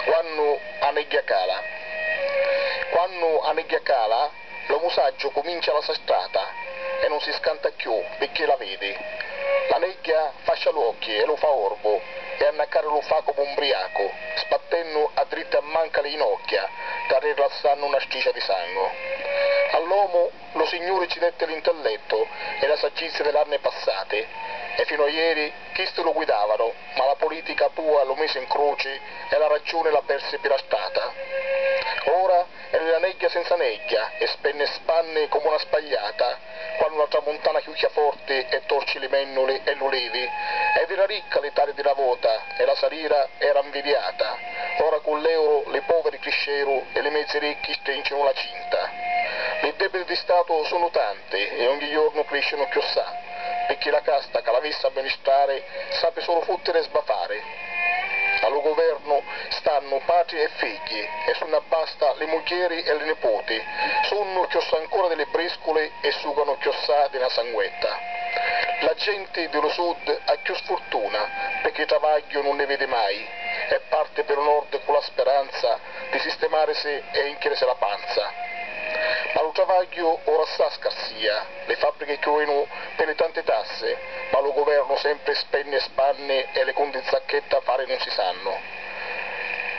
Quannu a negghia cala. Quannu a negghia cala, lo musaggiu cumincia la so strata e nun si scanta cchiù picchì la vedi. La negghia fascia l'uocchi e lu fa orbu e annacari lu fa comu un briacu, sbattennu a dritti a manca li jinocchia t'arrirlassannu na stricia di sangu. All'omu lu Signuri ci detti l'intellettu e la saggizia di l'anni passati e finu a ieri, Chisti lu guidavanu, ma la politica a bua lu misi 'n cruci e la raggiuni la persi pi la strata. Ora è nni la negghia senza negghia e spenni e spanni comu na spagliata quannu la tramuntana chiucchia forti e torci li mennuli e l'ulivi ed era ricca l'Italia di na vota e la salira era 'nvidiata. Ora cu l'euru li poveri crisceru e li mezzi ricchi strincinu la cinta. Li debiti di statu sunnu tanti e ogni jornu criscinu cchiossà. picchì la casta ca l'avissi amministrari sapi sulu futtiri e sbatari. A lu guvernu stannu patri e figghi e si unn'abbasta li mugghieri e li niputi sunnu chiossà ancora di li brisculi e suganu chiossà di na sanguetta. La genti di lu sud ha chiù sfurtuna picchì travagghiu nun nni vidi mai e parti pi lu nord cu la speranza di sistimarisi e inchirisi la panza. Ma lu travagghiu ora assà scarsìa. li fabbrichi chiuinu pi li tanti tassi, ma lu guvernu sempri spenni e spanni e li cunti Zacchedda fari nun si sannu.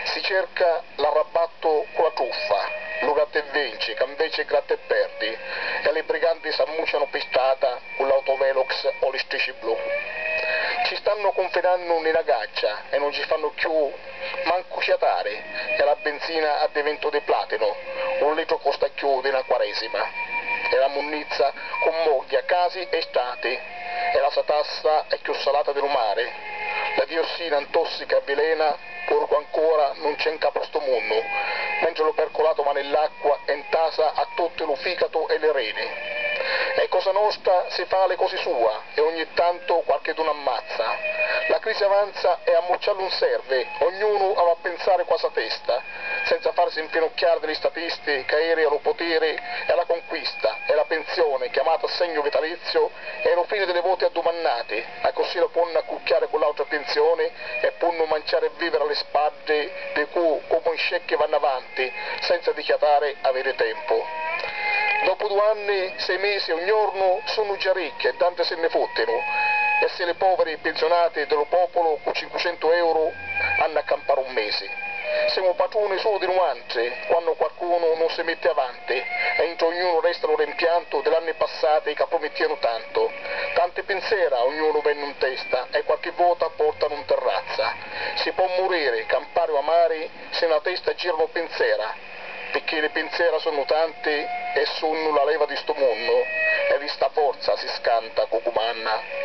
Si cerca l'arrabbattu cu la truffa, lu gratta e vinci ca nveci è gratta e perdi e li briganti s'ammuccianu pi strata cu l'autovelox o li strici blu. Ci stannu cunfinannu nni na gaccia e nun ci fannu cchiù Mancu ciatari, e la binzina addivintu di platinu, un litru costa cchiù di na quaresima, e la munnizza cummogghia casi e strati, e la satassa è cchiù salata di lu mari, la diossina ntossica e avvilena, purcu ancora nun c'è nca pu stu munnu, mentri lu percolato va nill'acqua e ntasa a tutti lu ficatu e li reni. E cosa nostra si fa li cosi sua. e ogni tanto quarchedunu ammazza. La crisi avanza e ammucciallu 'un servi, ognunu av'a penzari cu 'a sa testa, senza farsi 'mpinucchiari di li statisti ca eri a lu putiri e a la conquista e la penzioni chiamata assegnu vitalizziu è lu fini di li voti addumannati, accussì la ponnu accucchiari cu l'autra penzioni e punnu manciari e viviri a li spaddi di cu comu un scecchi vannu avanti senza dichiatari aviri tempu. Dopu du anni, sei misi e un jornu sunnu già ricchi e danti si nni futtinu e si li poviri pinzunati di lu populu cu cincucentu euru hannu a campari un misi, simu patruni sulu di nuantri quannu quarcunu nun si mitti avanti. Giuseppe, e intra ognunu resta lu rempiantu di l'anni passati ca prumittìanu tantu. Tanti pinsera a ognunu vennu 'n testa e quarchi vota portanu 'n terrazza. Si pò muriri, campari o amari, si nna testa giranu pinsera, picchì li pinsera sunnu tanti e sunnu la leva di stu munnu e di sta forza si scanta cu cumanna.